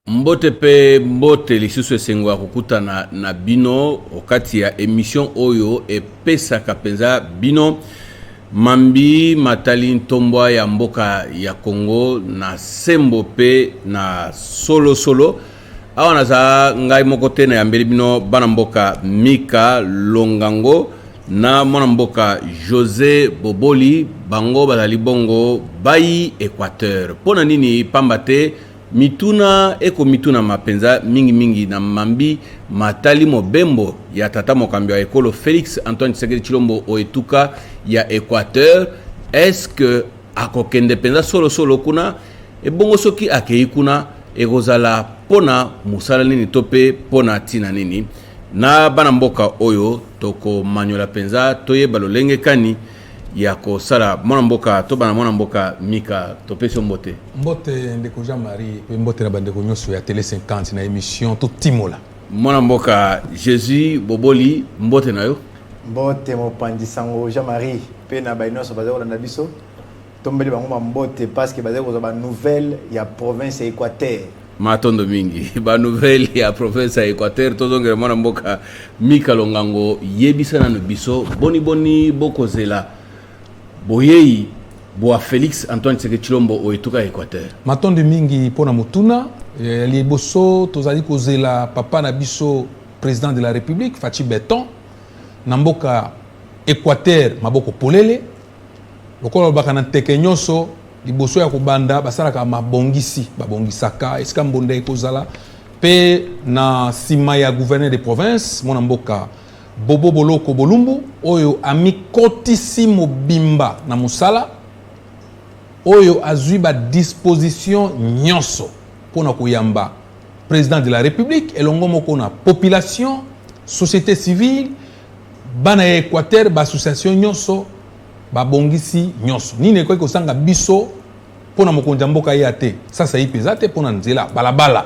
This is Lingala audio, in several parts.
mbote mpe mbote lisusu esengo ya kokutana na bino okati ya emission oyo epesaka mpenza bino mambi matali ntombwa ya mboka ya congo na sembo mpe na solosolo solo. awa naza ngai moko te nayambeli bino bana mboka mika longango na mwana mboka josé boboli bango bazali bongo bayi équateur mpo na nini pamba te mituna ekomitunama mpenza mingimingi na mambi matali mobembo ya tata mokambi ya ekolo félix antoine tshisekedi tshilombo o etuka ya équateur est ce que akokende mpenza solosolo kuna Ebongo soki akei kuna ekozala mpo na mosala nini to mpe mpo na ntina nini? Na bana mboka oyo tokomanyola mpenza toyeba lolenge kani ya kosala mwana mboka to bana mwana mboka mika topesi yo mbote mbote ndeko jean marie mpe mbote na bandeko nyonso ya tele 50 na émission totimola mwana mboka jésus boboli mbote na yo mbote mopanzi sango jean marie mpe na baye nyonso bazali kolanda biso Tombeli bango ba mbote parce que bazali kozwa ba nouvelles ya province ya Equateur. Matondo mingi ba nouvelles ya province ya Equateur tozongela mwana mboka Mika Longango yebisa nanu biso boni boni bokozela boyei bwa Felix Antoine Tshisekedi Tshilombo o etuka ya Equateur. Matondo mingi mpo na motuna ya liboso tozali kozela papa na biso président de la République Fatshi Beton na mboka Equateur maboko polele Lokola balobaka na nteke nyonso, liboso ya kobanda basalaka mabongisi, babongisaka esika mbonda ekozala mpe na nsima ya gouverneur de province, mwana mboka Bobo Boloko Bolumbu, oyo amikotisi mobimba na mosala, oyo azwi ba dispositions nyonso mpo na koyamba president de la Republique elongo moko na population, societe civile Bana ya Equateur, ba associations nyonso, ba bongisi nyonso. Nini ekoki kosanga biso pona mokonzi ya mboka aya te? Sasa ipe eza te pona nzela, balabala.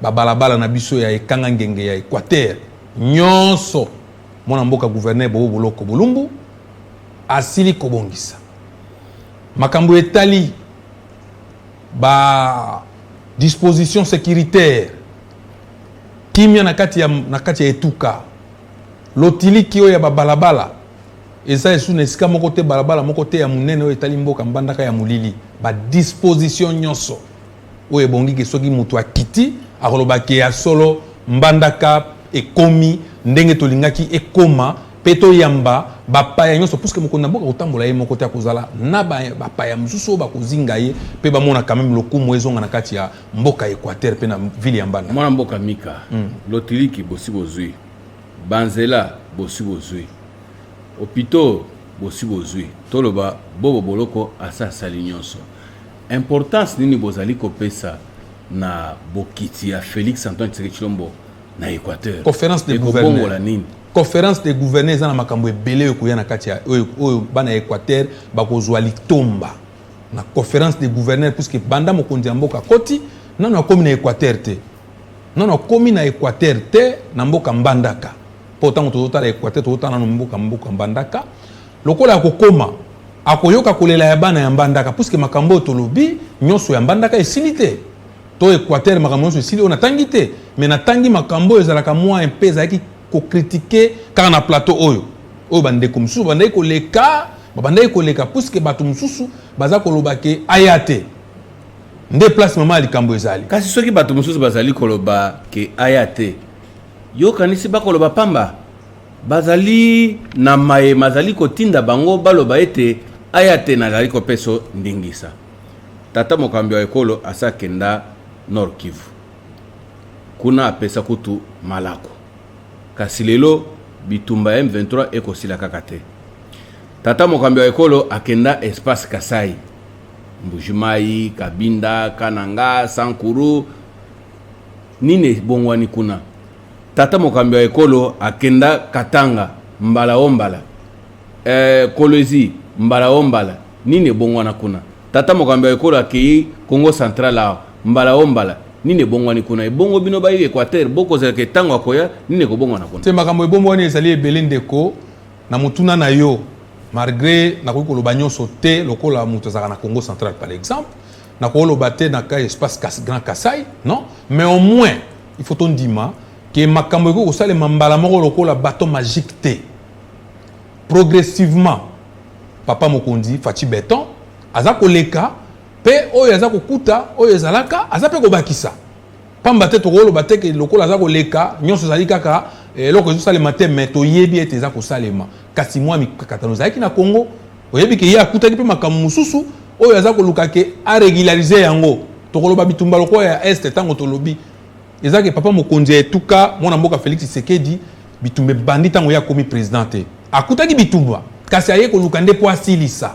Ba balabala na biso ya ekanga ngenge ya Equateur nyonso mwana mboka gouverneur Bobo Boloko Bolumbu asili kobongisa. Makambo etali ba dispositions securitaires Kimia na kati ya, na kati ya etuka. Lotiliki oyo ya babalabala eza esu na esika moko te, balabala moko te ya monene oyo etali mboka mbandaka ya molili. Ba disposition nyonso oyo ebongi ke soki moto akiti akoloba ke ya solo mbandaka ekomi ndenge tolingaki ekoma mpe toyamba bapaya nyonso puske mokonzi na mboka kotambola ye moko te akozala na bapaya mosusu oyo bakozinga ye mpe bamona kameme lokumu ezonga na kati ya mboka Equateur pe na ville ya Mbanda. Mwana mboka Mika, mm. lotiliki bosi bozui, banzela bosi bozui, hopitaux bosi bozui, toloba bobo boloko asa asali nyonso. Importance nini bozali kopesa na bokiti ya Felix Antoine Tshisekedi Tshilombo na Equateur? Conférence de gouverneurs. nini? conférence des gouverneurs eza na makambo ebele oyo ekoya na kati ya oyo bana ya Equateur bakozwa litomba na conference de gouverneur puisque banda mokonzi ya mboka akoti nano akomi na équateur te nano akomi na équateur te na mboka mbandaka mpo ntango tozotala équateur tozotala nano mboka mboka mbandaka lokola akokoma akoyoka kolela ya bana ya mbandaka puisque makambo oyo tolobi nyonso ya mbandaka esili te to équateur makambo nyonso esili oyo natangi te mais natangi makambo oyo ezalaka mwa mpe ezalaki kokritike kaka na plateau oyo oyo bandeko mosusu bandaki koleka Babandaki koleka puisque bato mosusu baza koloba ke aya te nde place mama ya likambo ezali. Kasi soki bato mosusu bazali koloba ke aya te, yo okanisi bakoloba pamba? Bazali na maye mazali kotinda bango baloba ete aya te nazali kopeso ndingisa. Tata mokambi wa ekolo asi akenda Nord-Kivu. Kuna apesa kutu malako. Kasi lelo bitumba ya M23 eko sila kaka te. Tata mokambi wa ekolo akenda espace Kasai. Mbujimayi, Kabinda, Kananga, Sankuru. Nini ebongwani kuna? Tata mokambi wa ekolo akenda Katanga mbala o mbala. Eh Kolwezi, mbala o mbala, nini ebongwana kuna? Tata mokambi ya ekolo akeyi Kongo Central awa, mbala o mbala, nini ebongwani kuna? Ebongo bino bayi Equateur, bokozela ke tango akoya, nini ekobongwana kuna? Te, makambo ebongwani ezali ebele ndeko. Na motuna na yo, malgre nakoki koloba nionso te lokola moto azalaka na Kongo Central par exemple, nakoloba te na ka espace kas, Grand Kasai, non? Mais au moins, il faut tondima ke makambo ekoki kosalema mbala moko lokola baton magique te. progressivement papa mokonzi faci beton aza koleka mpe oyo aza kokuta oyo ezalaka aza mpe kobakisa pamba te tokoloba te ke lokola aza koleka nyonso ezali kaka eh, eloko ezosalema te me toyebi ete eza kosalema kasi mwa mikakatano ezalaki na congo oyebi ke ye akutaki mpe makambo mosusu oyo aza koluka ke aregularize yango tokoloba bitumba lokola ya este ntango tolobi Eza ke papa mokonzi ya etuka mwana mboka Felix Tshisekedi bitumba ebandi ntango ye akomi president te. Akutaki bitumba kasi aye koluka nde mpo asilisa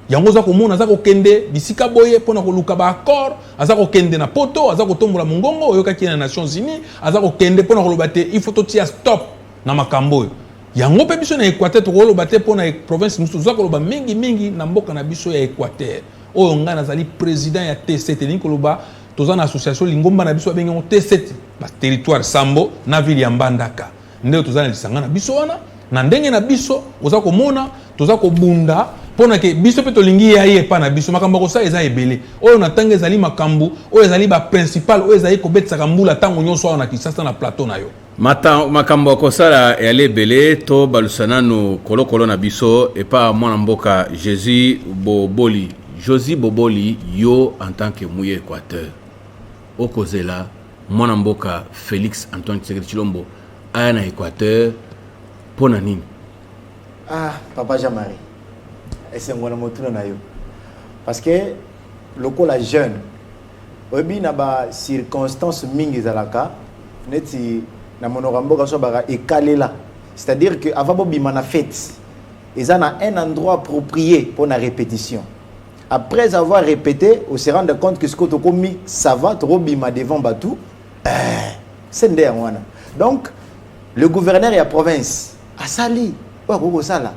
yango. Oza komona aza kokende bisika boye mpo na koluka ba accord. Aza kokende na poto, aza kotombola mongongo, oyokaki ye na Nations Unies, aza kokende mpo na koloba te il faut totia stop na makambo oyo. Yango mpe biso na Equateur tokoloba te mpo na province mosusu, toza koloba mingi mingi na mboka na biso ya Equateur oyo ngai nazali president ya TCT, elingi koloba Toza na association lingomba na biso babengi yango T7 ba territoire Sambo na ville ya Mbandaka nde toza na lisanga na biso wana na ndenge na biso oza komona toza kobunda mpo na ke biso mpe tolingi ya ye epai na biso makambo ya kosala eza ebele oyo na ntango ezali makambo oyo ezali baprincipal oyo ezali kobetisaka mbula ntango nyonso awa na kinshasa na plateau na yo Makambo ya kosala eyali ebele, tobalusa nanu kolokolo na biso epa mwana mboka Jesus Boboli. Josie Boboli, yo en tant que muye Equateur, okozela mwana mboka Felix Antoine Tshisekedi Tshilombo aya na Equateur mpo na nini? Ah, papa Jean-Marie, esengo na motuna na yo parce que lokola jeune Oyebi na ba circonstances mingi ezalaka neti na monoko ya mboka so baka ekalela c'est-à-dire que avant bobima na fete eza na un endroit approprié pour na répétition après avoir répété on se rendre compte que sikoyo tokomi sava tokobima devant bato eh, se nde yango wana donc le gouverneur ya province asali oyo akoki kosala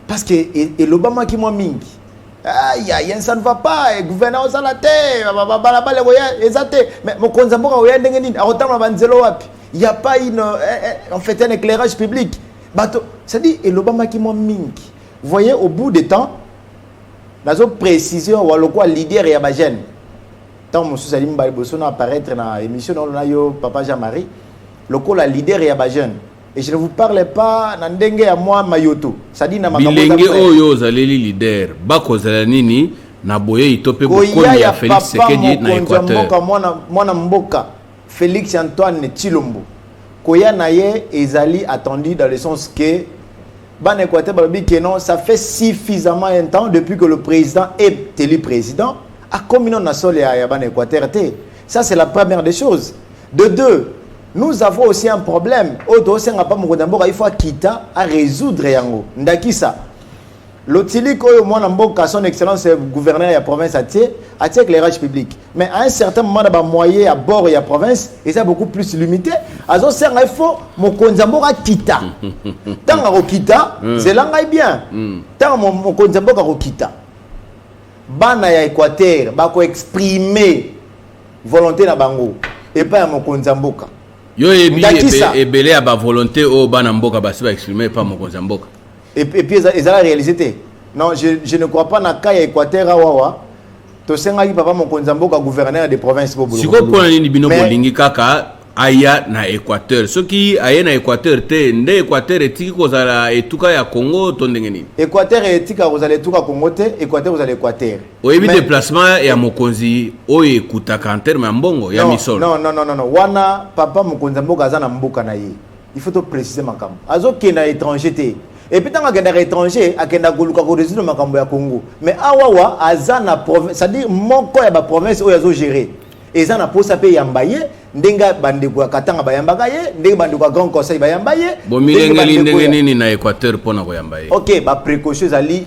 parce que elobamaki mwa mingi aya yen ça ne va pas eh, gouverneur ozala te balabala ekoya eza te mais mokonzi ya mboka oya ndenge nini akotambola banzelo wapi ya pas une eh, eh, en fait un éclairage public bato c'est-à-dire elobamaki mwa mingi voyez au bout de temps nazo précise wa lokola leader ya bagene ntango mosusu ali mibale liboso na apparaître na émission naolona yo papa jean marie lokola leader ya bajeune Et je ne vous parle pas na ndenge ya mwa mayoto sadi na makambo bilenge oyo ozaleli leader bakozala nini na boyei to mpe bokoli ya Felix Tshisekedi na Equateur mwana, mwana mboka Felix Antoine Tshilombo koya na ye ezali attendu dans le sens que bana Equateur balobi que non ça fait suffisamment un temps depuis que le président est élu président akomi nano na sole ya, ya bana Equateur te ça c'est la première des choses de deux Nous avons aussi un problème oyo tozosenga mpa mokonzi ya mboka il faut akita aresoudre yango ndakisa lotiliki oyo mwana mboka son excellence gouverneur ya province atie atie éclairage public mais à un certain moment na bamoye ya bord ya province eza beaucoup plus limité azosenga il faut mokonzi ya mboka akita ntango akokita hmm. zela ngai bien hmm. ntango mokonzi ya mboka akokita bana ya équateur bakoexprime volonte na bango epai ya mokonzi ya mboka yo oyebi ebele ya bavolonté oyo bana mboka basi ba exprime epai mokonzi ya mboka epuis ezala réalise te non je, je ne crois pas na cas ya équateur awawa tosengaki papa mokonzi ya mboka gouverneur de province sikoyo mpona nini bino bolingi kaka aya na équateur soki aye na équateur te nde équateur etiki kozala etuka ya congo to ndenge nini équateur etika kozala etuka congo te équateur kozala équateur oyebi Mais- deplacement ya mokonzi oyo ekutaka en terme ya mbongo ya Non, misolo non, non, non, non, non. wana papa mokonzi ya mboka aza na mboka na ye il faut toprécise makambo azokenda na étranger te epuis ntango akendaka étranger akendaka koluka korésoudre makambo ya congo mais awawa aza na province c'est-à-dire moko ya baprovince oyo azogere eza na mposa mpe eyamba ye ndenge bandeko ya katanga bayambaka ye ndenge bandeko ya grand conseil bayamba ye ndenge bomilengeli bandeko ndenge ya- nini na équateur mpo na koyamba ye ok baprécaution ezali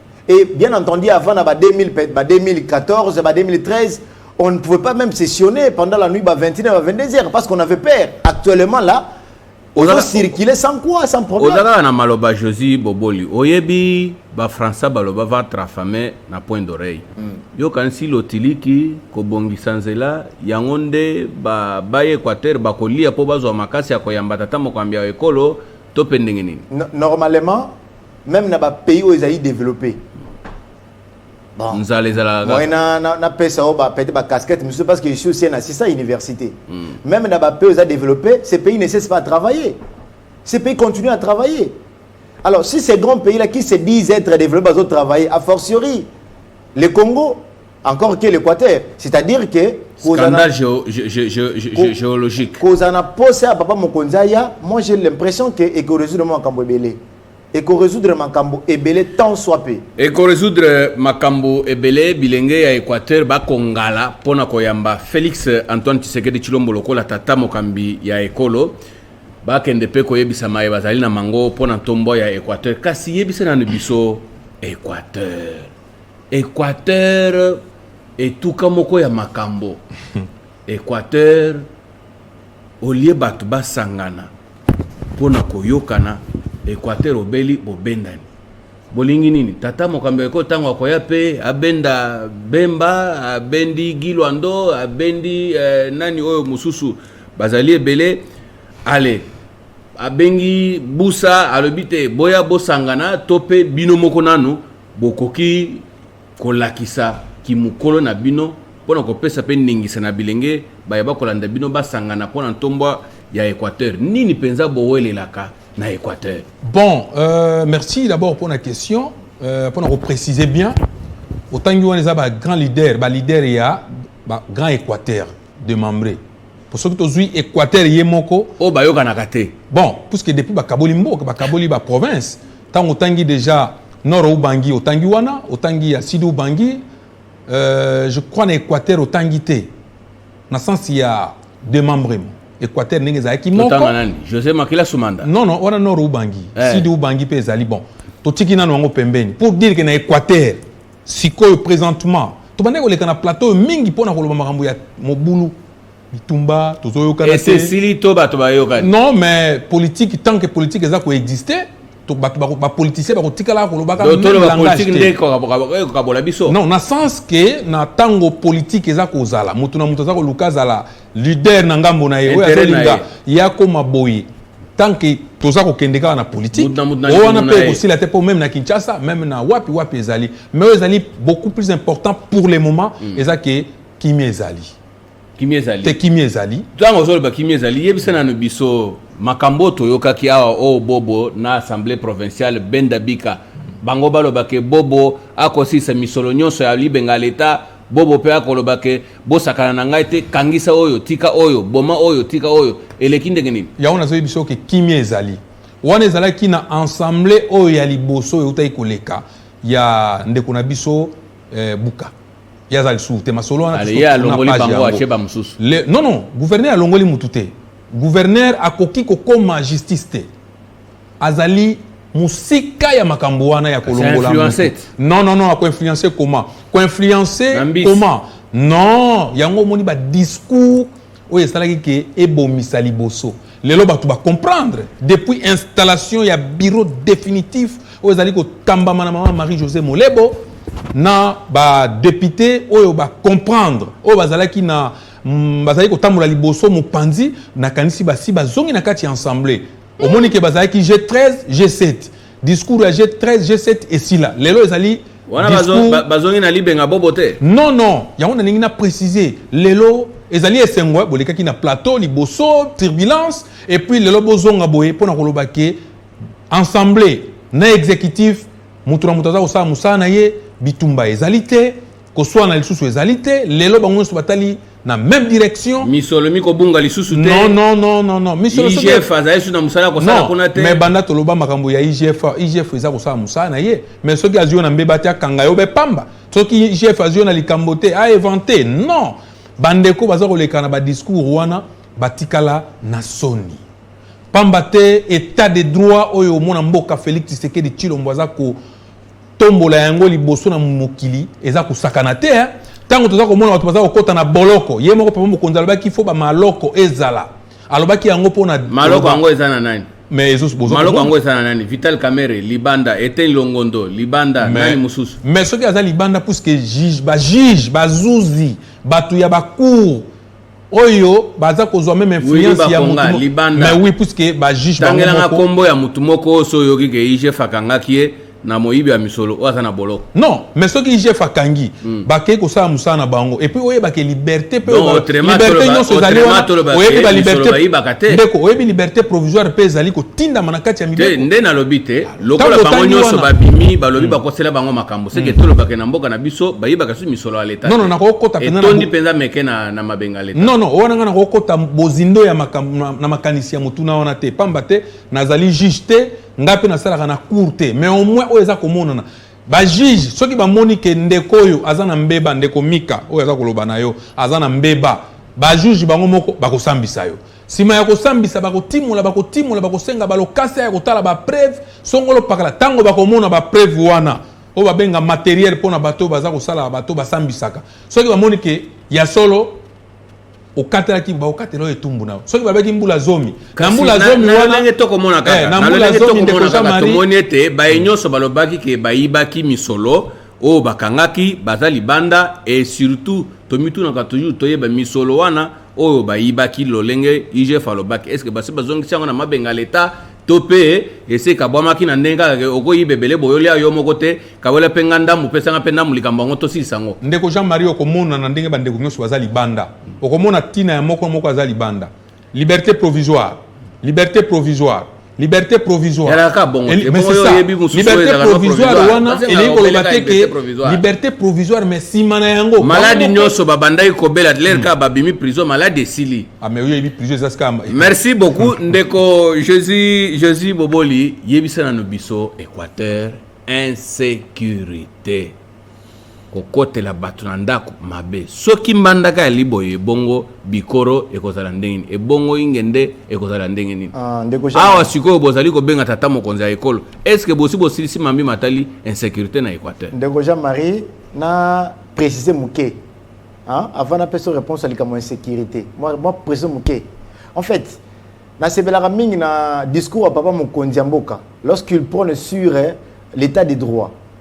Et bien entendu, avant la 2000, 2014, 2013, on ne pouvait pas même sessionner pendant la nuit à 21h, à 22h, parce qu'on avait peur. Actuellement, là, on a circulé sans quoi, sans problème. Ozala na maloba Josi Boboli, oyebi ba Français baloba va trafame na point d'oreille. Mm. Yo kansi lotiliki kobongisa nzela yango nde ba baye Équateur bakolia po bazwa makasi ya koyamba tata mokambi ya ekolo to pe ndenge nini. Normalement meme na ba pays oyo ezali développé bon nzala ezalaka moyen na na, na pesa oyo ba peut-être ba casquette monsieur parce que je suis aussi un assistant université mm. même na ba pays oyo développé ces pays ne cessent pas à travailler ces pays continuent à travailler alors si ces grands pays là qui se disent être développés bazo travailler a fortiori le Congo encore que l'équateur c'est à dire que scandale géologique kozala na posa ya papa mokonzi aya moi j'ai l'impression que ekoresoudre makambo ebele ekoresoudre makambo ebele tant soit peu ekoresoudre makambo ebele bilenge ya équateur bakongala mpo na koyamba félix antoine tshisekedi tshilombo lokola tata mokambi ya ekolo bakende mpe koyebisa maye bazali na mango mpo na ntombo ya équateur kasi yebisa nanu biso équateur Equateur etuka moko ya makambo Equateur olie bato basangana mpo na koyokana Equateur obeli bobendani bolingi nini tata mokambi ya ekolo ntango akoya mpe abenda Bemba abendi Gilwando abendi eh, nani oyo mosusu bazali ebele ale abengi Busa alobi te boya bosangana to mpe bino moko nanu Bokoki kolakisa kimokolo na bino mpo na kopesa mpe ndingisa na bilenge baye bakolanda bino basangana mpo na ntombwa ya Equateur. Nini mpenza bowelelaka na Equateur? Bon, euh, merci d'abord mpo na question euh, mpo na koprécise bien otangi wana eza ba grand leader ba leader ya ba grand Equateur demembre po soki tozwi équateur ye moko oyo bayokanaka te bon puisque depuis bakaboli mboka bakaboli baprovince ntango otangi déjà nord ubangi otangi wana otangi ya sud ubangi euh, je crois na équateur otangi te na sens ya démembrement équateur ndenge ezalaki moko nani josé makila sumanda non non wana nord ubangi eh. sud ubangi mpe ezali bon totiki nano yango pembeni pour dire que na équateur Sikoyo presentement tobandaki koleka na plateau oyo mingi mpo na koloba makambo ya mobulu bitumba tozoyokana te esili to bato bayokani non mais politique tant que politique eza koexiste bapoliticien bakotikala kolobaka ekokabola biso non na sens ke na ntango politike eza kozala moto na moto aza koluka azala leader na ngambo na ye oyo azolinga ye akoma boye tant que toza kokende kaka na politique oyo wana mpe ekosila te mpo meme na kinshasa meme na wapi wapi ezali mais oyo ezali beaucoup plus important pour le moment mm. eza ke kimia ezali kimia ezali te kimia ezali ntango ozoloba kimia ezali yebisa nano biso makambo oyo toyokaki awa oyo oh, bobo na assemblée provinciale benda bika bango baloba ke bobo akosilisa misolo nyonso ya libenga leta Bobo pe akoloba ke bosakana na ngai te, kangisa oyo, tika oyo, boma oyo, tika oyo, eleki ndenge nini? Yango nazoyebisa yo ke kimia ezali. Wana ezalaki na ensemble oyo ya liboso oyo eutaki koleka ya ndeko na biso eh, Buka. Ye aza lisusu te masolo wana Allez, ye alongoli bango atie bamosusu. Non non, gouverneur alongoli mutu te. Gouverneur akoki kokoma justice te. azali musika ya makambo wana ya kolongola non non non akoinfluence comment koinfluence comment non yango omoni badiscours oyo esalaki ke ebomisa liboso lelo bato bacomprendre depuis installation ya bureau définitif oyo ezali kotambama na mama marie josé molebo na badepute oyo bacomprendre oyo bazalaki na mm, bazali kotambola liboso mopanzi nakanisi basi bazongi na kati ya ensemble omoni ke bazalaki je 13 je 7 discours ya je 13 je 7 esila lelo ezali wana discours- bazo- ba- bazongi na libenga bobo te non non yango nalingi na préciser lelo ezali esengo eh, bolekaki na plateau liboso turbulence et puis lelo bozonga boye mpo na koloba ke ensemble na exécutif moto na moto aza kosala mosala na ye bitumba ezali te koswana lisusu ezali te lelo bango nyonso batali na même direction misolo mikobunga lisusu te non non non non non misolo IGF azali lisusu na mosala kosala kuna te mais banda toloba makambo ya IGF IGF eza kosala mosala na ye mais soki azwi yo na mbeba te akanga yo be pamba soki IGF azwi yo na likambo te a évente non bandeko baza koleka na badiscours wana batikala na soni pamba te état de droit oyo omona mboka Félix Tshisekedi Tshilombo aza ko tombola yango liboso na mokili eza kosakana te eh. ntango toza komona bato baza kokota na boloko ye moko papa mokonzi alobaki fo bamaloko ezala alobaki yango mpo na maloko yango eza na nani mais ezo bozo maloko yango eza na nani vital kamere libanda ete longondo libanda mais, nani mosusu mais soki aza libanda puisque juge ba juge bazuzi bato ya bacour oyo baza kozwa meme influence ya mutu libanda mais oui puisque ba juge bango tangela nga kombo ya mutu moko oyo so yoki ke IGF akangaki ye na moyibi ya misolo oyo aza na boloko non mais soki IGF akangi mm. bakei kosala mosala na bango et puis oyeba ke liberté pe liberté nyonso ezali wana oyebi ba liberté ndeko oyebi liberté provisoire pe ezali kotindama na kati ya mibeko nde nalobi te lokola bango nyonso babimi balobi hmm. bakosela bango makambo seke hmm. tolobaka na mboka na biso bayibaka susu misolo ya leta nono nakokota etondi mpenza meke na, na mabenga leta nono wana ngai nakokota bozindo ya makambo na, na makanisi ya motuna wana te pamba te nazali juge te ngai mpe nasalaka na cour te mais au moins oyo eza komonana bajuge soki bamoni ke ndeko oyo aza na mbeba ndeko mika oyo aza koloba na yo aza na mbeba bajuge bango moko bakosambisa yo Sima ya kosambisa, bakotimola, bakotimola, bakosenga balokasa ya kotala ba preuve songolo pakala. Tango bakomona ba preuve wana, oyo babenga materiel mpo na bato baza kosala bato basambisaka, soki bamoni ke ya solo okatelaki bakokatela oyo etumbu na yo soki babaki mbula zomi na mbula zomi wanandenge tokomona kaka eh, na mbula zomi ndeko jean marie tomoni ete baye nyonso balobaki ke bayibaki misolo Oyo bakangaki baza libanda et surtout tomitunaka toujours toyeba misolo wana oyo bayibaki lolenge IGF alobaki est-ce que basi bazongisi yango na mabenga l'etat to pe esi ekabwamaki na ndenge kaka ke okoyiba ebele boye olia yo moko te kawela pe nga ndambu pesa nga pe ndambu likambo yango tosilisa yango. Ndeko Jean Marie okomona na ndenge bandeko nionso baza libanda okomona tina ya moko moko aza libanda Liberte provisoire. Liberte provisoire. Liberte provisoire. Liberte provisoire wana elingi koloba te ke liberte provisoire mais nsima na yango maladi nyonso babandaki kobela lere kaka babimi prison maladi esili ah, merci beaucoup ndeko jésus jésus boboli yebisa nano biso équateur insécurité kokotela bato na ndako mabe soki mbandaka ya liboye ebongo bikoro ekozala ndenge nini ebongo inge nde ekozala ndenge nini Ah, ndeko Jean- awa sikoyo bozali kobenga tata mokonzi ya ekolo eske bosi bosilisi mambi matali insécurité na équateur ndeko jean marie na précise moke hein, avant napesa réponse ya likambo ya insécurité mwa mwa précise moke en fait nasepelaka mingi na discours ya papa mokonzi ya mboka lorsqu'il prône sur eh, l'état de droit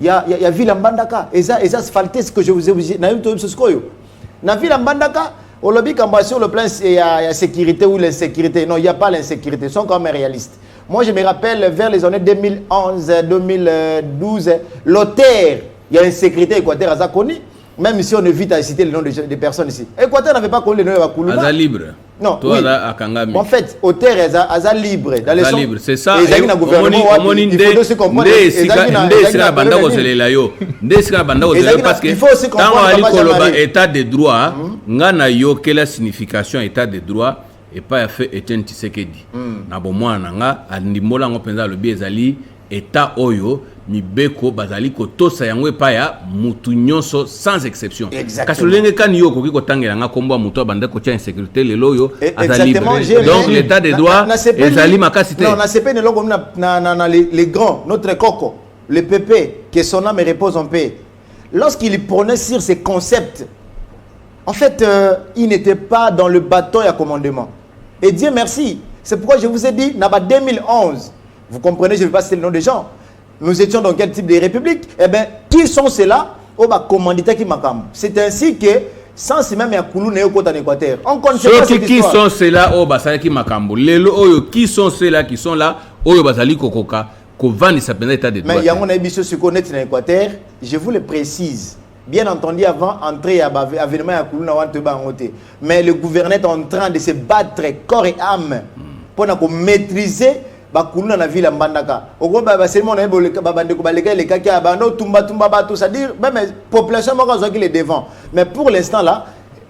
ya, ya, ya ville ya mbandaka eza, eza asphalte ce que je vous ai obligé nayebi toyebi biso sikoyo na ville ya mbandaka olobi kambo sur le plan ya, ya sécurité ou l'insécurité non il y a pas l'insécurité sont quand même réalistes moi je me rappelle vers les années 2011 2012 l'auteur il y a insécurité équateur aza connu même si on évite à citer le nom de, de personnes ici équateur n'avait pas connu le nom ya bakuluna aza libre Non, toi oui. là akangami. En fait, auteur aza, aza libre dans les libre, c'est ça. Et ezaki na gouvernement wapi il faut aussi comprendre ezaki na ezaki na banda kozelela yo. Nde esika banda kozelela parce que il faut aussi comprendre ali koloba état de droit hmm. nga na yo quelle signification état de droit et pas fait Etienne Tshisekedi. Hmm. Na bomwana nga andimbola ngo penza lobi ezali Etat oyo mibeko bazali kotosa yango epai ya mutu nyonso sans exception. Kasi lolenge kani yo okoki kotangela nga kombo ya mutu abandaki kotia insecurite lelo oyo E- aza Exactement, libre? j'ai Donc rien. l'etat de Na- droit na- nasepeli- ezali makasi te. Non, nasepeli na eloko na, na, na, na le, le grand, notre coco, le pépé, que son âme repose en paix. Lorsqu'il prenait sur ces concepts, en fait, euh, il n'était pas dans le bâton et à commandement. Et Dieu merci. C'est pourquoi je vous ai dit, Naba 2011, Vous comprenez, je ne vais pas citer le nom des gens. Nous étions dans quel type de république Eh bien, qui sont ceux-là Oh, bah, commandita qui makam. C'est ainsi que sans même ya kulu na yo kota na équateur on connaît pas cette qui sont ceux-là oyo oh, basalaki makambo lelo oyo oh, qui sont ceux-là qui sont là oyo oh, bazali kokoka kovandisa mpenza état de droit mais yango nayebi biso sikoyo neti na équateur je vous le précise Bien entendu, avant entrée à avènement à Kuluna Wanteba mais le gouvernement est en train de se battre corps et âme pour maîtriser bakuluna na ville ya mbandaka okoba baselimo na ye babandeko baleka elekaki ya banda otumbatumba bato c'est-à-dire meme population moko azwaki le devant mais pour l'instant là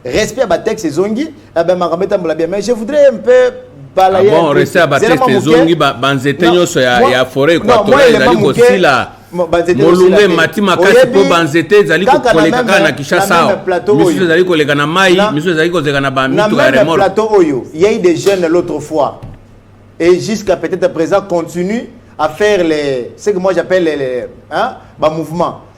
respect ya batexte ezongi eh ben, makambo etambola bien mais je voudrais un peu balaye ah bon, respect ya batexte ezongi banzete nyonso ya, ya foret equatorial ezali kosila molunga emati makasi mpo banzete ezali koleka kaka na kinshasa awa misusu ezali koleka na mai misusu ezali kozeka na bamituka ya remor plateau oyo yei des jeunes l'autre fois et jusqu'à peut-être présent continue à faire les ce que moi j'appelle les, les hein, ba mouvements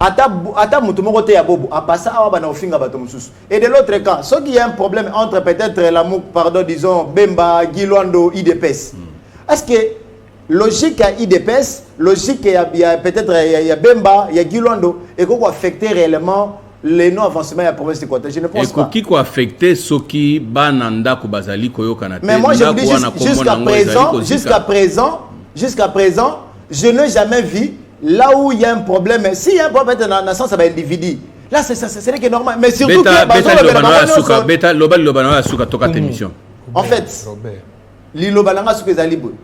ata ata moto moko te ya bobo apasa awa bana ofinga bato mosusu et de l'autre camp soki il y a un problème entre peut-être lamouk pardon disons bemba gilwando idps mm. est-ce que logique ya idps logique ya, ya peut-être ya, ya bemba ya gilwando ekoki koaffecte réellement le non avancement ya province equateur je ne pense pas ekoki koaffecte soki bana ndako bazali koyokana te mais moi je vous dis jusqu'à présent jusqu'à présent jusqu'à présent je n'ai jamais vu Là où il y a un problème, s'il y a un problème dans la naissance, ça va individu. Là, c'est ça, c'est vrai que normal. Mais surtout beta, que beta, beta, beta, suka, beta, loba, loba, loba, suka, toka ta émission. En fait, liloba nanga suka ezali boye.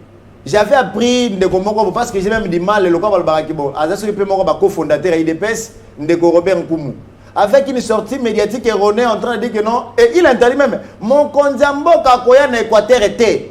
J'avais appris ndeko moko parce que j'ai même du mal le quoi balobaka ki bon. Aza soki pe moko ba cofondateur ya IDPS ndeko Robert Nkumu. Avec une sortie médiatique erronée en train de dire que non et il interdit même mon konzamboka koya na Équateur était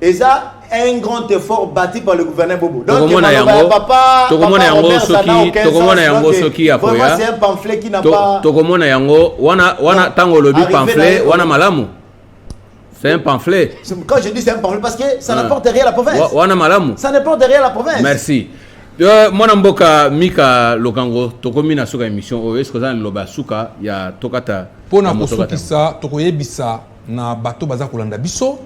eza un grand effort bâti par le gouverneur Bobo. Donc, tokomona yango papa, tokomona yango soki tokomona yango soki akoya. C'est un pamphlet qui n'a to, pas tokomona yango wana wana tango lobi pamphlet wana malamu. C'est un pamphlet. Quand je dis c'est un pamphlet parce que ça ah. n'apporte rien à la province. Wana malamu. Ça n'apporte rien à la province. Merci. Euh, mwana mboka mika lokango tokomi na suka émission oyo eske oza na liloba ya suka ya tokata mpo na kosukisa tokoyebisa na bato baza kolanda biso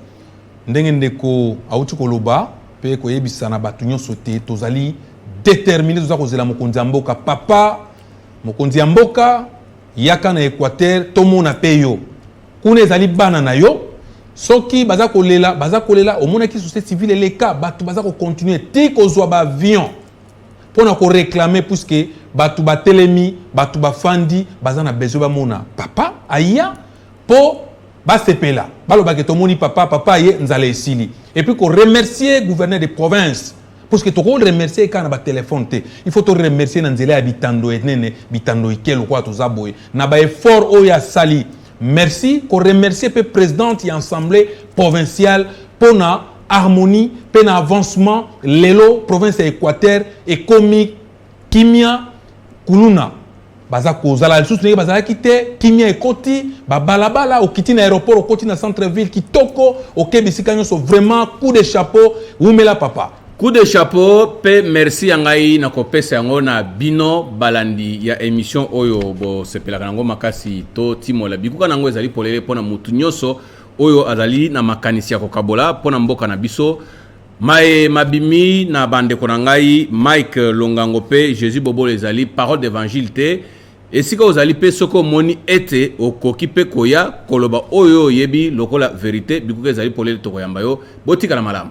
Ndenge ndeko awuti koloba pe koyebisa na bato nyonso te tozali determine toza kozela mokonzi ya mboka papa mokonzi ya mboka yaka na equateur tomona pe yo kuna ezali bana na yo soki baza kolela baza kolela omonaki société civile eleka bato baza kocontinue ti kozwa baavion mpo na koreklame puiske bato batelemi bato bafandi baza na besoin bamona papa aya po basepela baloba ke tomoni papa papa ye nzala esili et puis ko remercier gouverneur de province parce que toko remercier kaka na ba téléphone te il faut to remercier na nzela ya bitando enene bitando ike lokola toza boye na ba effort oyo asali merci ko remercier pe présidente ya assemblée provinciale pona harmonie pe na avancement lelo province ya Équateur ekomi kimia kuluna baza kozala lisusu ndenge bazalaki te kimia ekoti babalabala okiti na aéroport okoti na centre ville kitoko oke bisika nyonso vraiment coup de chapeau wumela papa coup de chapeau mpe merci ya ngai na kopesa yango na bino balandi ya émission oyo bosepelaka yango makasi to timola bikuka na yango ezali polele mpo na motu nyonso oyo azali na makanisi ya kokabola mpo na mboka na biso Maye mabimi na bandeko na ngai Mike Longango pe Jesus Bobola ezali parole d'evangile te esika ozali mpe soki omoni ete okoki mpe koya koloba oyo oyebi lokola verite bikuka ezali polele tokoyamba yo botikala malamu